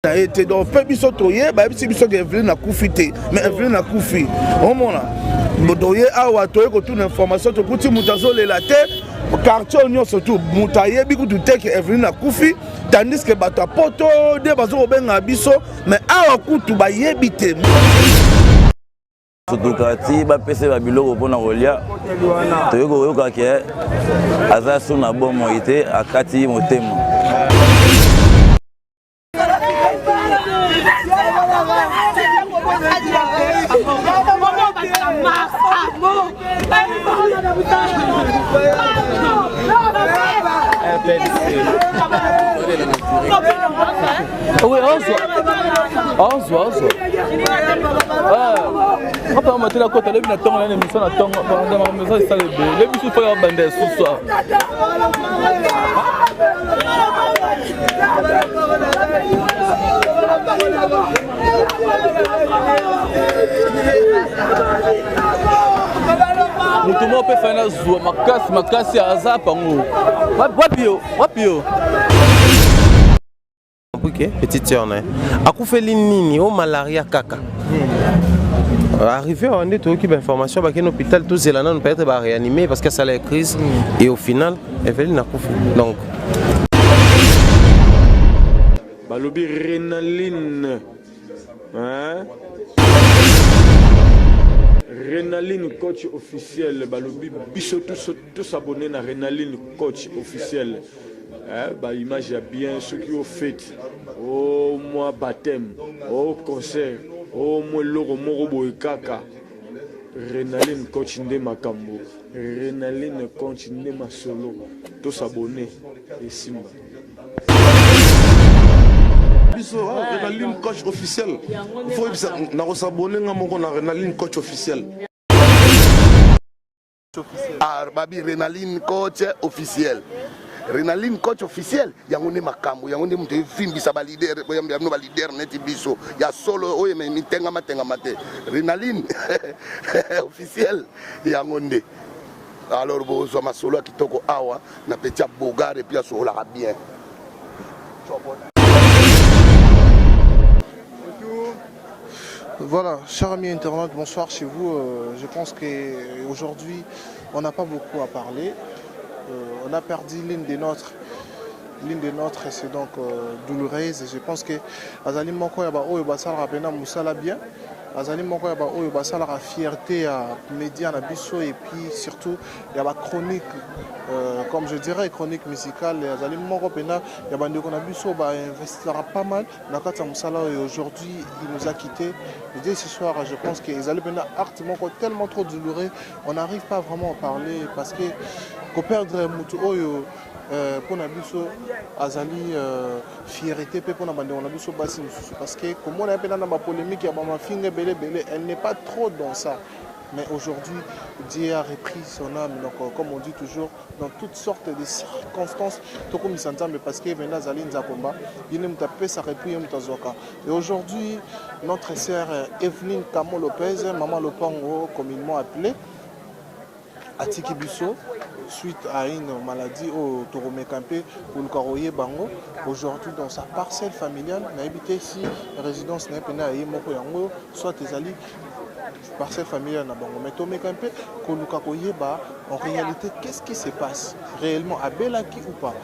na ye te donc mpe biso toye bayebisi biso ke eveline akufi te mais eveline akufi omona toye awa toye kotuna information tokuti moto azolela te quartier oyo nyonso tu moto ayebi kutu te ke eveline akufi tandis ke bato ya poto nde bazokobenga biso mais awa kutu bayebi te sutuka ti bapesa ye babiloko mpo na kolya toyei koyoka ke aza su na bomoi te akati motema Thank you. Oui, ozwa ozwa ozwa papa ya matela kota lebi na ntongo nani emission na ntongo eza esala ebele lebi bisu fo ya banda ya susu awa moto moko mpe fai nazwa makasi makasi aza pango wapi yo wapi yo que petite sœur na ye akufeli nini o malaria kaka arrivé awa nde toyoki bainformation bakende hôpital tozela nano peut-être baréanime parce que asala ya crise mm. et au final eveline akufi donc balobi renaline renaline coach officiel balobi biso tous abonne na renaline coach officiel eh, ba image ya bien soki o fete o mwa baptême o concert o mwa eloko moko boye kaka renaline coach nde makambo renaline coach nde masolo tosabone esimba biso ah, renaline coach officiel fo yebisa nakosabone nga moko na renaline coach officiel Ah, babi renaline coach officiel renaline coach officiel yango nde makambo yango nde moto evimbisa balider boyamba bino balider neti biso ya solo oyo mitengamatengama te renaline officiel yango nde alors bozwa masolo ya kitoko awa na peti ya bogar epuis asololaka bien Voilà, chers amis internautes, bonsoir chez vous. Euh, je pense qu'aujourd'hui, on n'a pas beaucoup à parler. Euh, on a perdu l'une des nôtres. L'une des nôtres, c'est donc euh, douloureuse. Je pense que Azali Moko Yaba Oyo Basala Rapena Moussala bien. Azali Moko Yaba Oyo Basala la fierté à Média Nabiso et puis surtout il y a la chronique, euh, comme je dirais, chronique musicale. Azali Moko Pena Yaba Ndeko Nabiso va investir pas mal. na kati ya mosala oyo aujourd'hui il nous a quitté dès ce soir je pense que ezali mpena acte moko tellement trop douloureux on n'arrive pas vraiment à parler parce que koperdre motu oyo euh, mpo na biso azali euh, fierité mpe mpo na bandeko na biso basi mosusu parce que komona ye mpena na bapolémike ya bamafinga ebele ebele elle n'est pas trop dans ça mais aujourd'hui dieu a repris son âme donc euh, comme on dit toujours dans toutes sortes de circonstances tokumisa nzambe parce que venda azali nzakomba ye nde moto apesaka epuis ye moto azwaka et aujourd'hui notre sœur eveline camo lopez maman lopango communement appelé atiki biso suite à une maladie oyo tokomeka mpe koluka koyeba yango aujourd'hui dans sa parcelle familiale nayebi te si résidence na ye mpena ya ye moko yango soit ezali parcelle familiale na bango mais tomeka mpe koluka koyeba en réalité qu'est ce qui se passe réellement abelaki ou pas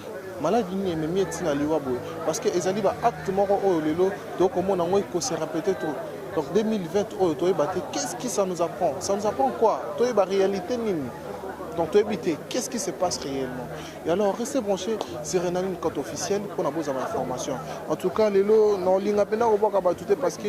maladi nini ememi etina liwa boye parce que ezali baacte moko oyo lelo tokomona yango ekosera peut-être donc 2020 oyo toyeba te qu'est ce qui ça nous apprend ça nous apprend quoi toyeba réalité nini donc toyebi te qu'est-ce qui se passe réellement et alors restez branché sur renani compte officiel mpona bozala information en tout cas lelo naolinga mpenza kobwaka bato te parce que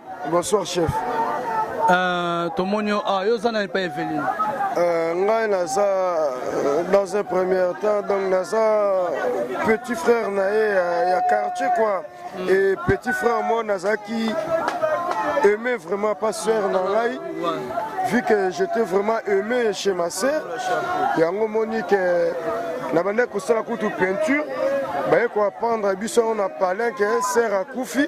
Bonsoir chef. Euh, tomoni yo ah, yo oza na epa eveline euh, ngai naza euh, dans un premier temps donc naza petit frère na ye ya, ya quartier quoi mm. et petit frère moi nazalaki aimé vraiment pas sœur na ngai vu que j'étais vraiment aimé chez ma sœur yango moni ke nabandaki kosala kutu peinture baye koapprendre biso yango na palin ke sœur akufi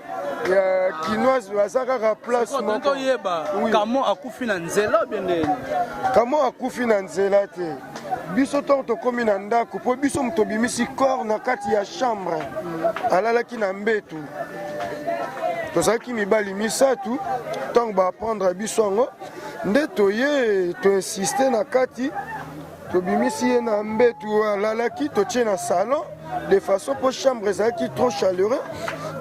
ya kinoise baza kaka place mokoyeba kamo akufi na nzela bendeni kamo akufi na nzela te biso ntango tokómi na ndako mpo biso moto obimisi corps na kati ya chambre alalaki na mbetu tozalaki mibali misato ntango baaprendre biso yango nde toye toinsiste na kati tobimisi ye na mbetu alalaki totie na salon de façon mpo chambre ezalaki trop chaleureux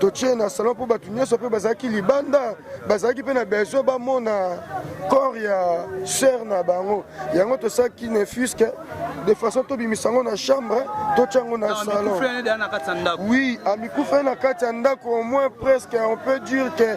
totie na salon mpo bato nyonso mpe bazalaki libanda bazalaki mpe na besoin bamona corps ya sœur na bango yango tosalaki nefuske de façon tobimisa yango na chambre totya yango na salon oui amikufeli na kati ya ndako au moins presque on peut dire que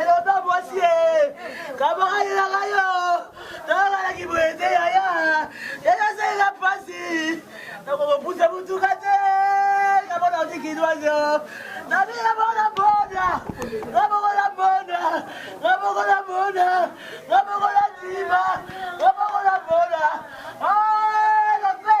elombe mwasi ye kabakalelaka yo toyokanaki boye te yaya eyosalela mpasi nakokopusa motuka te namona otikidwazo nabika bona bona nabokola bona nabokola bona nabokola ntima nabokola bona lope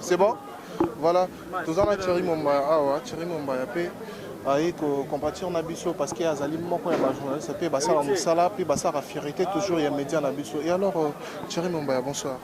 C'est bon Voilà, tous en a Thierry Mombaya, ah ouais, Thierry Mombaya, puis aye kocompatir na biso parce que azali moko ya bajournaliste mpe basala mosala mpe basalaka fierité toujours ya média na biso et alors euh, thierry mombaya bonsoir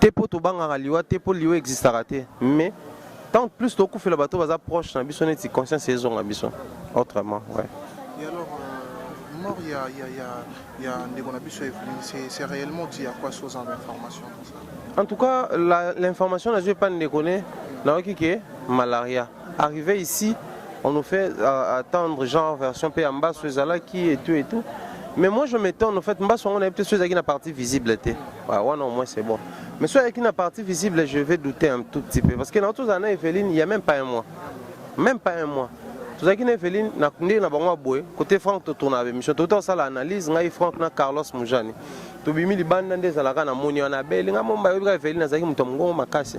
te mpo tobangaka liwa te mpo liwa existaka te mais tant plus tokufela bato baza proche na biso neti conscience ezonga biso autrement ouais. Et alors, euh, mort ya, ya, ya, ya ndeko na biso Evelyne, c'est c'est réellement dit à quoi source en information comme ça En tout cas, la- l'information nazwi epai ndeko ne nayoki ke malaria Arrivé ici, on nous fait euh, attendre genre version pe ambasso ezalaki et tout et tout. Mais moi je m'étonne en fait mbasso on a peut-être ezalaki na partie visible te. Ouais, ouais non, au moins c'est bon. Mais soit avec une partie visible, je vais douter un tout petit peu parce que dans tous années Evelyne, il n'y a même pas un mois. Même pas un mois. tozalaki na eveline na ndenge na bango ya boye kote frank totourna bemission touta kosala analyse ngai frank na carlos mujani tobimi libanda nde ezalaka na moni wana abeli ngai momba yobi kaka eveline azalaki moto ya mongongo makasi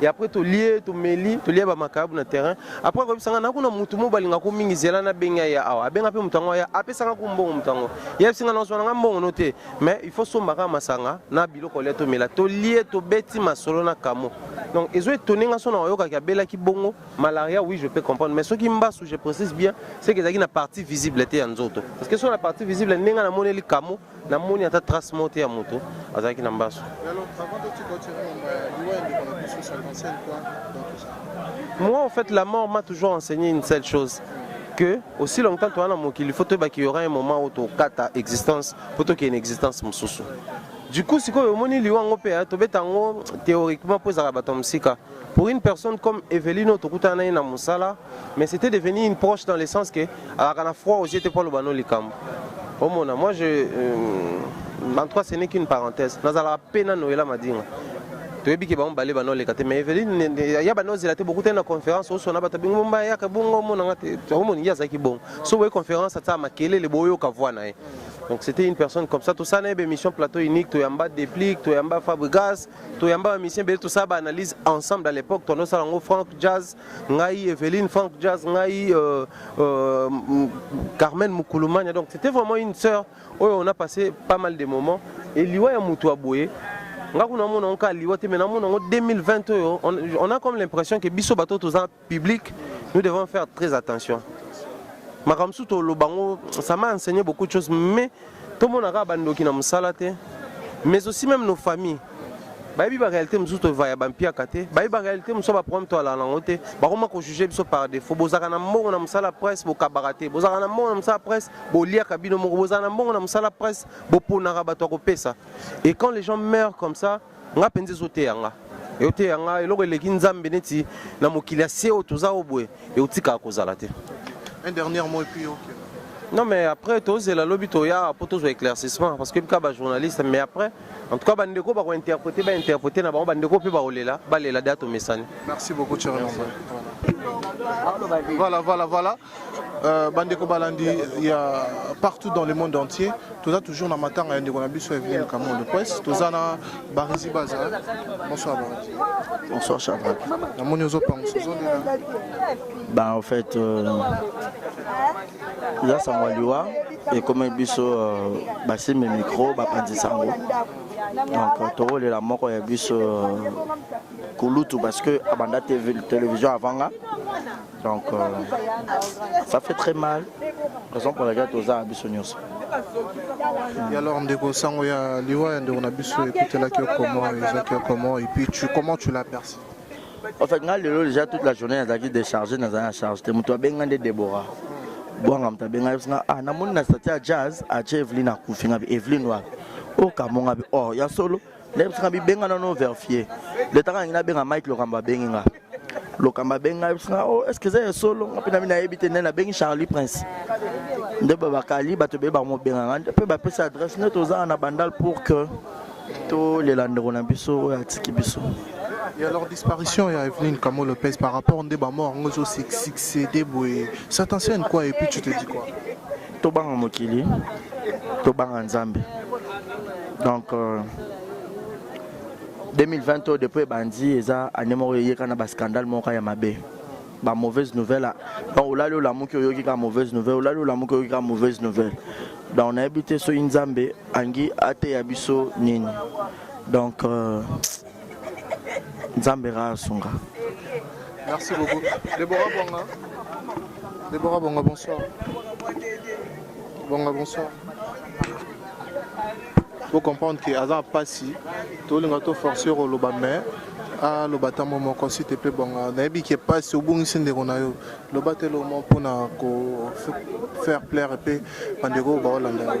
et après tolie tomeli tolia bamakayabu na terrain après akoyebisa ngai nakuna motu moko balingako mingi zela nabenga ye awa abenga mpe moto yango aya apesanga ku mbongo moto yango yebisi ngai nazwa na ngai mbongo no te mais il faut somba kaka masanga na biloko olia tomela tolie tobeti masolo na kamo donc ezo etone ngai sona oyokaki abelaki bongo malaria oui je peux comprendre mais soki mbasu je précise bien seke ezalaki na partie visible te ya nzoto parce que so na partie visible ndenge namoneli kamo na moni ata trace moko te ya moto azalaki na mbasu moi en fait la mort m'a toujours enseigné une seule chose que aussi longtemps toza na mokili faut toyeba qu'il y aura un moment où tokata existence mpo tokende existence mosusu du coup sikoyo omoni liwa yango mpe tobeta yango théoriquement mpo ezalaka bato ya mosika Pour une personne comme Evelyne oyo tokutana na ye na mosala mais c'était devenu une proche dans le sens que alaka na froid aux yeux te mpo aloba no likambo omona moi je euh, en tout cas ce n'est qu'une parenthèse nazalaka mpe na noela madinga toyebi ke bango bale banoleka te mais eveline ya banozela te bokutani na conférence osona bato bingo bomba yaka bongo omona nga te omoni ye azalaki bongo so boye conférence atia makelele boyoka voix na ye donc c'était une personne comme ça tosala na ye baémission plateau unique toyamba déplique toyamba fabrigas toyamba ba musicien ebele tosala ba analyse ensemble à l'époque toando osala yango frank jazz ngai eveline frank jazz ngai euh, euh, carmen mukulumania donc c'était vraiment une sœur oyo on a passé pas mal de moments et liwa ya motu ya boye nga kuna mona yango kaka liwa te mais namona yango 2020 oyo on a comme l'impression ke biso bato toza public nous devons faire très attention makambo mosusu toloba yango ça m'a enseigné beaucoup de choses mais tomonaka bandoki na mosala te mais aussi même nos familles bayebi baréalité mosusu tovaya bampiaka te bayebi baréalité mosusu baproblème toalala nango te bakoma kojuge biso par défaut bozalaka na mbongo na mosala presse bokabaka te bozalaka na mbongo na mosala presse boliaka bino moko bozalaka na mbongo na mosala presse boponaka bato ya kopesa et quand les gens meurent comme ça nga mpenza ezoteya nga eoteya nga eloko eleki nzambe neti na mokili ya se oyo toza oyo boye eotikaka kozala te un dernier mot epuis okay. non mais après tozela lobi toya mpo tozwa éclaircissement parce que bika bajournaliste mais après en tout cas bandeko bakointerprete bainterprete na bango bandeko mpe bakolela balela da tomesani merci beaucoup voilà voilà voilà Euh, bandeko balandi ya partout dans le monde entier toza toujours na matanga ya ndeko na biso evelin kamondo pres toza na barisi baza bonsoir barisi bonsoir chadrack namoni ozopangusa ozolela ben en fait euh, eza sango ya liwa ekomeli biso euh, basimbi micro bapanzi sango donc tokolela moko ya biso kulutu parce que abanda télévision avanga Donc, euh, ça fait très mal. Raison pour laquelle tu as biso nyonso. Et alors, Ndeko Sango, ya liwa ya Ndeko na biso, écoutez la yo comment, ezaki yo comment, et puis tu, comment tu l'as perçu En fait, ngai lelo déjà toute la journée nazalaki déchargé, nazalaki na charge te. Moto abenga nde Deborah. Bwanga moto abenga ye nga ah namoni na stati ya jazz atie Evelyne akufi nga bi Evelyne wapi? Okambo nga bi oh ya solo Ndenge biso na bibenga na no verifier. Leta kangi na benga Mike Lokamba abengi nga. Lokamba abengi nga biso na oh est-ce que c'est solo nga pe na mina yebi te nene abengi Charlie Prince. Nde ba bakali bato be ba mo benga nga pe ba pesa adresse nde toza na bandal pour que to lela ndeko na biso oyo atiki biso. Et alors disparition ya Evelyne Kamo Lopez par rapport nde ba mort ngo zo succéder boye. Ça t'enseigne quoi et puis tu te dis quoi? Tobanga mokili, tobanga Nzambe. Donc euh, 2020 oyo depuis ebandi eza année moko eyeka na bascandale moko ya mabe ba mauvaise nouvelle donc olali olamuki oyoki kaka mauvaise nouvelle olali olamuki oyoki kaka mauvaise nouvelle donc nayebi te soki nzambe angi ateya biso nini donc euh, nzambe kaka asunga merci beaucoup debora bonga debora bonga bonsoir bonga bonsoir faut comprendre que aza mpasi tolinga to force yo koloba mais aloba ntango moko si te mpe bonga nayebi ke mpasi obungisi ndeko na yo loba te lomo mpona ko faire plaire mpe bandeko baolanda yo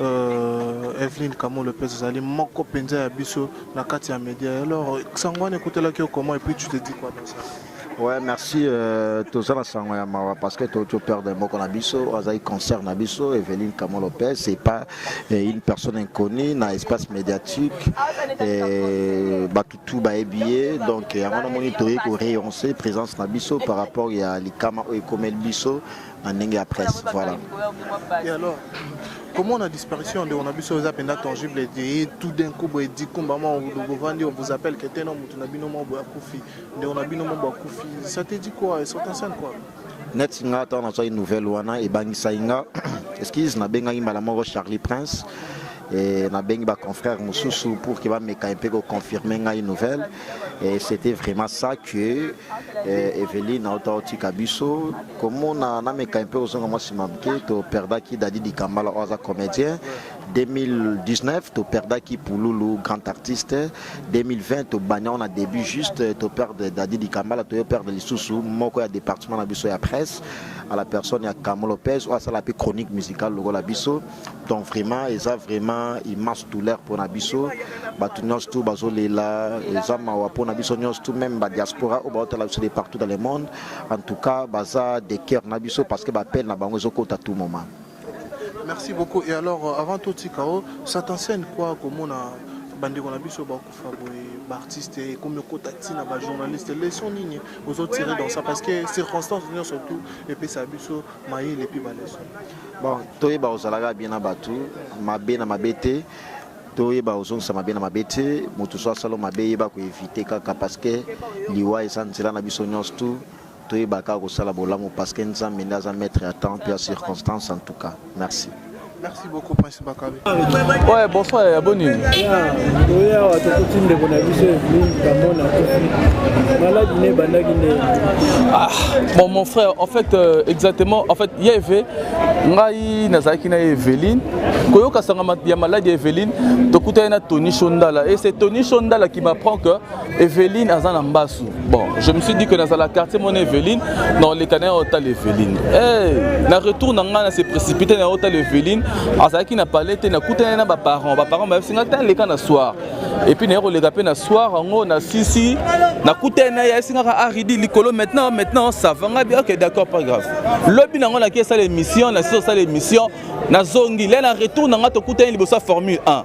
euh, Evelyne Kamo Lopez Zali moko penza ya biso na kati ya media alors sango wana ekotelaki yo comment et puis tu te dis quoi dans ça Ouais, merci euh, toza na sango ya mawa parce que to père de moko na biso azali concert na biso Evelyne Kamo Lopez c'est pas euh, une personne inconnue na espace médiatique euh, bato tout bayebi ye donc yango namoni toyei ko réoncer présence na biso par rapport ya likama oyo ekomeli biso na ndenge ya presse voilà et alors comment la disparition de onabiso eza penda tangible et tout d'un coup boye dit kumba ma bovandi on vous appelle que tena mutu na bino moko akufi nde on a bino moko akufi ça te dit quoi et sortant scène quoi net nga ata nazwaki nouvelle wana ebangisaki nga excuse nabengaki mbala moko charlie prince et nabengi baconfrère mosusu pour ke bameka mpe koconfirme ngai nouvelle Et c'était vraiment ça que euh, Evelyne auta otika biso komona nameka mpe ozonga mwa nsima moke toperdaki dadi dikambala oyo aza comédien 2019 toperdaki pululu grand artiste 2020 tobania wana début juste toperde dadi dikambala toyoperde lisusu moko ya département na biso ya presse à la personne ya camo lopez oyo asala mpe chronique musicale lokola biso donc vraiment eza vraiment immense douleur mpona biso bato nyonso tu bazolela eza mawa mpona biso nyonso tu meme badiaspora oyo baotala biso de partout dans le monde en tout cas baza de cœur na biso parce que bapele na bango ezokota tout moment merci beaucoup et alors euh, avant totika o ça t'enseigne quoi komona bandeko na biso bakufa boye baartiste ekomi okota ntina bajournaliste leson nini ozotire dans ça parce que circonstance nyonso tout epesa biso mayele mpe baleson Bon, toyeba ozalaka bien na bato mabe na mabe te toyeba ozongisa mabe na mabe te moto so asala mabe yeba koevite kaka parceke liwa eza nzela na biso nyonso tu toyeba kaka kosala bolamu parceke nzambe nde aza maître ya temps mpe ya circonstance en tout cas merci merci beaucoup Ouais, bonsoir, ya boni oya awa tokuti ndeko na biso evelin kamona akufi maladi ne ebandaki nde ah, bon mon frère en fait euh, exactement en fait ya eve ngai nazalaki na ye eveline koyoka sanga ya maladi ya eveline tokutani na tony shondala et c'est tony shondala qui m'apprend que Evelyne aza na mbasu. Bon, je me suis dit que dans la quartier mon Evelyne, dans les canards hôtel Evelyne. Eh, hey, na retour na ngana s'est précipité na hôtel Evelyne, azaki na palette na kutana na ba parents, ba parents ba singa tan le kana soir. Et puis na yero le gapé na soir ngo na sisi, na kutana ya singa ka aridi likolo maintenant maintenant ça va nga bien OK d'accord pas grave. Lobi na ngona ki sala émission, na sala émission, na zongi, là na retour na ngato kutana libosa formule 1.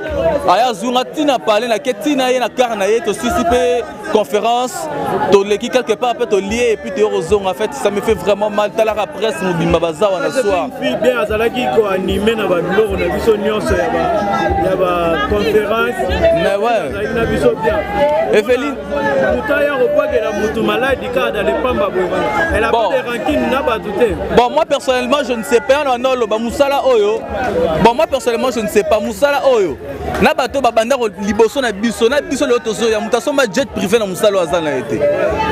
aya azunga ntina pale na ke ntina ye na kare na ye tosisi mpe conférence toleki quelque part mpe tolie epuis toye kozonga fete ça me fait vraiment mal talaka presse mobimba baza wana soir bien azalaki koanime na babiloko na biso nyonso ya baconférence mais ouais na biso bien eveline Bon, moi personnellement, je ne sais pas. Non, non, bah, Moussala Oyo. Bon, moi personnellement, je ne sais pas. Moussala Oyo. Na bato ba banda ko liboso na biso na biso le tozo ya muta somba jet privé na musala wa zana été.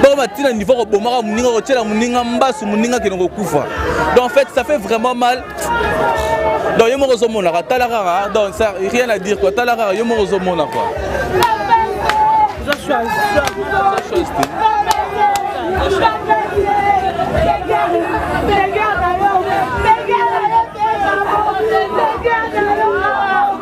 Bon ma tina niveau ko bomaka muninga ko tshela muninga mbasu muninga ke ko kufa. Donc en fait ça fait vraiment mal donc yo moko ozomonaka tala kaka donc ça rien à dire quoi tala kaka yo moko ozomona quoi Regarde,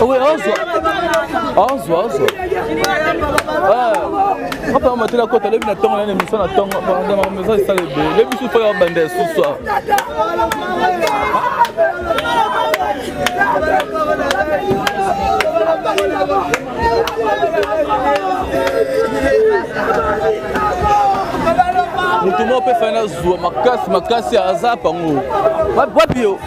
Oui, ozwa ozwa ozwa apaa matela kota alebi na ntongo nani emission na ntongo maison esala ebele lebi susu oyo abanda esusu awa moto moko mpe fai nazwa makasi makasi aza pango wapi yo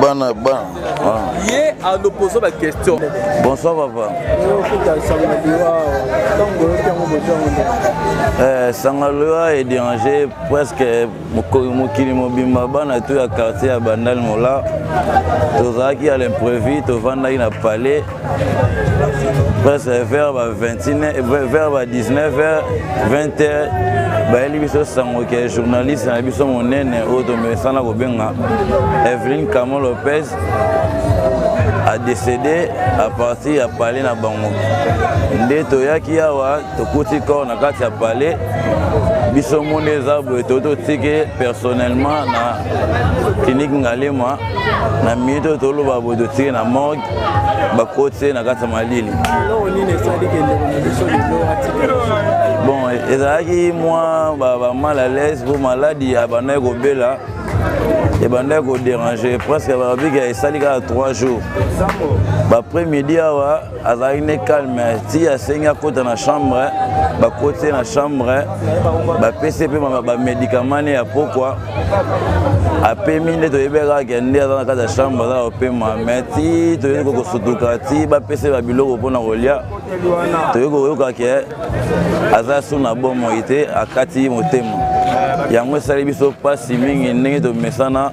bana bana ah. ye alopozo ba question bonsoir papa eh, sangaloa ederange presque mokili mobimba bana to ya quartier ya bandal mola tozalaki ya l'imprévu tovandaki na palais presque vers ba 21 vers ba 19 heures 20 heures bayeli biso sango ke journaliste na biso monene oyo tomesana kobenga evelyn camo lopez adécédé à partir ya palais na bango nde toyaki awa tokuti corps na kati ya palais biso monde eza boye to totike personnellement na clinique ngalema na minute oyo toloba boye totike na morgue bakoti ye na kati ya malili bon ezalaki mwa bamal à l'aise mpo maladi abandaki kobela ebandaki koderange presque babika esali kaka 3 jours baprès midi awa azalaki ne calme ti asengi akota na chambre bakoti ye na chambre bapesi ye mpe bamedikama ne ya pokwa apemi nde toyebi kaka ke nde aza na kati ya chambre aza kopema mai ti toyei kokosutuka ti bapesi ye babiloko mpona kolia toyei koyoka ke aza su na bomoi te akati motema yango esali biso mpasi mingi ndenge tomesana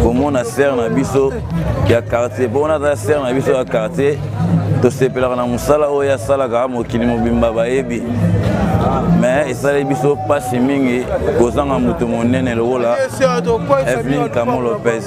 komona sere na biso ya quartier mpo wana aza sere na biso ya quartier tosepelaka na mosala oyo asalaka mokili mobimba bayebi me esali biso mpasi mingi kozanga moto monene lokola evelin camo lopez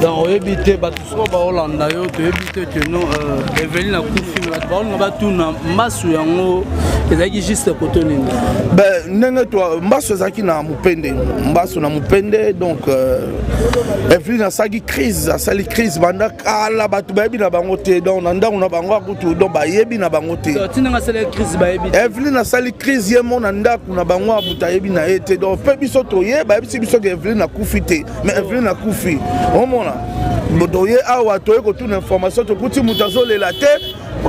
donc oyebi te bato soko baolanda yo toyebi te ke no euh, eveline akufi bato baolinga batuna mbasu yango ezalaki juste koto nini ndenge mbasu ezalaki na mopende mbasu na mopende donc euh, eveline asalaki crise asali crise banda kala bato bayebi na bango te donc na ndako na bango akutu donc bayebi na bango te evelyn asali crise ye mo na ndako na bango abuta ayebi na ye te donc mpe biso toye bayebisi biso ke evelyn akufi te mais evelyn akufi omona toye awa toye kotuna information tokuti moto azolela te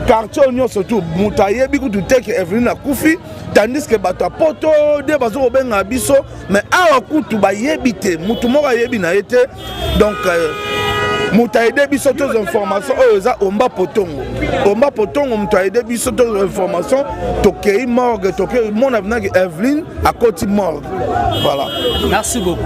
quartier oyo nyonso tu moto ayebi kutu te ke evelyn akufi tandis ke bato ya poto nde bazokobenga biso mais awa kutu bayebi te motu moko ayebi na ye te donc euh, moto aide biso tozwa information oyo eza omba potongo omba potongo moto aide biso tozwa information tokei morgue tokei mona vinaki eveline akoti morgue voilà merci beaucoup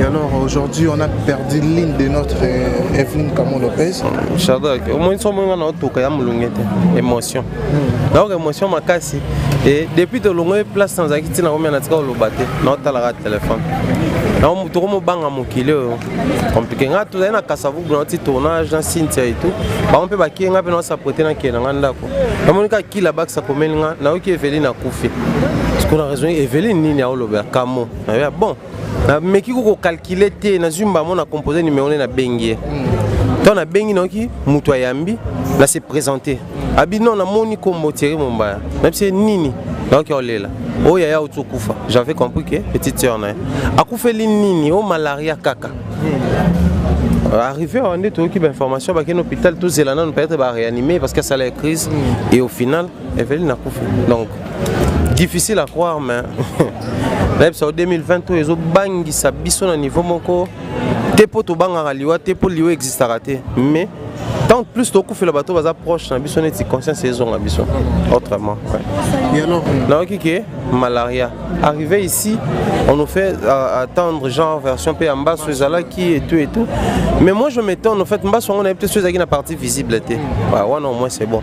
Et alors aujourd'hui on a perdu l'île de notre euh, Evelyne Camon Lopez. Shadrach, au moins son mwenga na otoka ya mulungete émotion. Hmm. Donc émotion makasi et depuis de longue place sans akiti na komia na tika oloba te na otala ka téléphone. Na moto ko mobanga mokili oyo. Compliqué nga tozali na Kasavubu na ti tournage na Cynthia et tout. Ba mpe ba kienga pe na sa pote na kiena nga ndako. Na monika kila bakisa komeli nga na oki Evelyne akufi. Parce qu'on a raison Evelyne nini a oloba kamo. Ah bon nameki ko kokalkile te nazwi mbamo na compose numero nde nabengi ye ntango nabengi nayoki moto ayambi na se présente abi non namoni nkombo tiere mombaya nabise nini nayoki olela oyo oh, yaya outi okufa j'avais compris ke petite sœur na ye akufeli nini o oh, malaria kaka euh, arrivé awa nde toyoki bainformation bakende hôpital tozela nano peut-être baréanime parce que asala ya crise et au final Eveline akufi donc difficile à croire mais nayebisa yo 2020 oyo ezobangisa biso na niveau moko te mpo tobangaka liwa te mpo liwa existaka te mais tant plus tokufela bato baza proche na biso neti conscience ezonga biso autrement nayoki ke malaria arrivé ici on nous fait euh, attendre genre version mpe ya mbaso ezalaki et tout et tout mais moi je m'étonne en fait mbaso yango nayebi te so ezalaki na partie visible te wana au moins c'est bon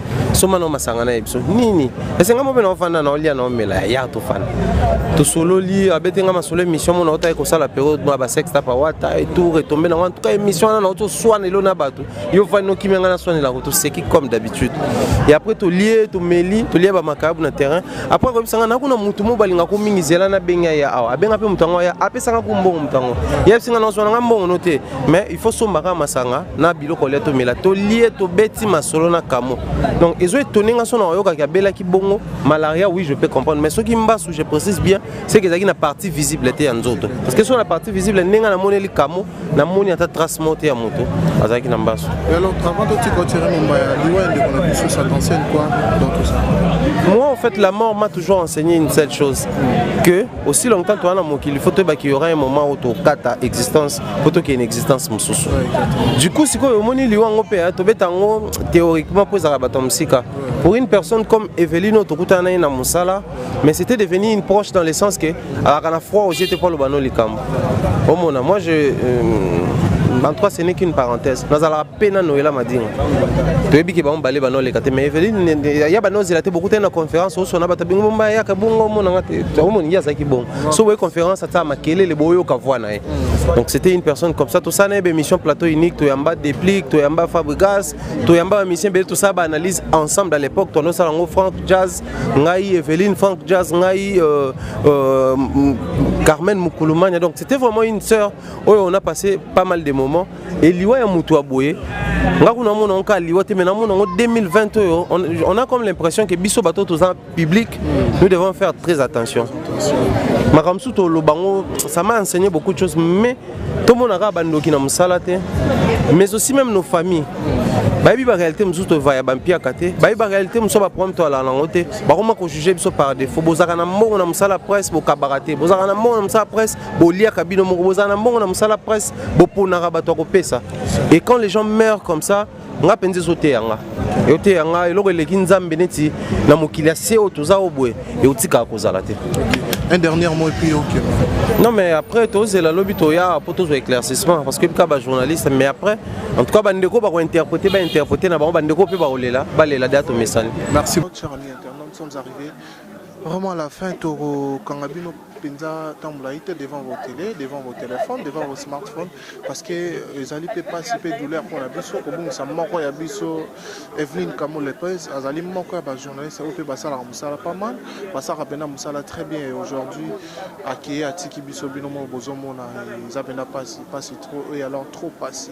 soma na masanga na ye biso nini esenga mo mpe naofanda na olia na omela ya tofanda tosololi abeti nga masolo émission mona otaki kosala periode mwa basex tapa wata etour etombe nango en tout cas émission wana naoto swana elo na bato yo vani nokimi yanga naswanelako toseki comme d'habitude et après tolie tomeli tolie bamakayabu na terrain après akoyebisa nga nakuna motu mo balingako mingi zela nabengi ye awa abenga mpe moto yango aya apesanga ko mbongo moto yango yebisi nga naoswana nga mbongo no te mais il faut sombaka masanga na biloko lia tomela tolie tobeti masolo na kamo donc ezo etone nga sona oyokaki abelaki bongo malaria oui je peux comprendre mais soki mbasu je précise bien c'est que ezalaki na partie visible te ya nzoto parce que so na partie visible ndenge namoneli kamo namoni ata trace moko te ya moto azalaki na mbasu alors avant totika otire momba ya liwa ya ndeko na biso ça t'enseigne quoi dans tout ça moi en fait la mort m'a toujours enseigné une seule chose que aussi longtemps toza na mokili faut toyeba qu'il y aura un moment où tokata existence mpo tokende existence mosusu du coup sikoyo omoni liwa yango mpe tobeta yango théoriquement mpo ezalaka bato ya mosika pour une personne comme eveline oyo tokutana na ye na mosala mais c'était devenu une proche dans le sens que alaka na froid oje te mpo aloba no likambo omona moi je euh, en tout cas ce n'est qu'une parenthèse nazalaka mpe na noela madinga toyebi ke bango bale banoleka te mais eveline ya banozela te bokutani na conférence osona bato bingo bomba yaka bongo omonanga te omoningi azalaki bongo so boye conférence ata makelele boyoka voi na ye donc c'était une personne comme ça tosala na ye baémission plateau unique toyamba déplique toyamba fabrigas toyamba bamisien bele tosala baanalyse ensemble à l'époque toanosala yango frank jazz ngai eveline frank jazz ngai euh, euh, carmen mukulumania donc c'était vraiment une sœur oyo on a passé pas mal de moments Et liwa ya mutu aboye nga kuna mona on ka liwa te mais namona ngo 2020 oyo on a comme l'impression que biso bato toza public nous devons faire très attention makambo susu toloba ngo ça m'a enseigné beaucoup de choses mais tomonaka bandoki na mosala te mais aussi même nos familles bayebi baréalité mosusu tovaya bampiaka te bayebi baréalité mosusu baproblème toalala nango te bakoma kojuge biso par défaut bozalaka na mbongo na mosala presse bokabaka te bozalaka na mbongo na mosala presse boliaka bino moko bozala na mbongo na mosala presse boponaka bato ya kopesa et quand les gens meurent comme ça nga mpenza ezoteya nga eoteya nga eloko eleki nzambe neti na mokili ya se oyo toza oyo boye ekotikaka kozala te un dernier mot epuis ok non mais après tozela lobi toya mpo tozwa éclaircissement parce que bika bajournaliste mais après en tout cas bandeko bakointerprete bainterprete na bango bandeko mpe bakolela balela deya tomesani merci sommes arrivés vraiment à la fin tokokanga bino mpenza ntango molai te devant vos tele devant vos téléphone devant vos smartphone parce que euh, ezali mpe mpasi mpe douleur mpo na biso kobungisa moko ya biso eveline kamo lepes azali moko ya bajournaliste oyo mpe basalaka mosala pas mal basalaka mpenza mosala très bien et aujourd'hui akeye atiki biso bino moko bozomona eza mpenza mpasi mpasi trop et alors trop mpasi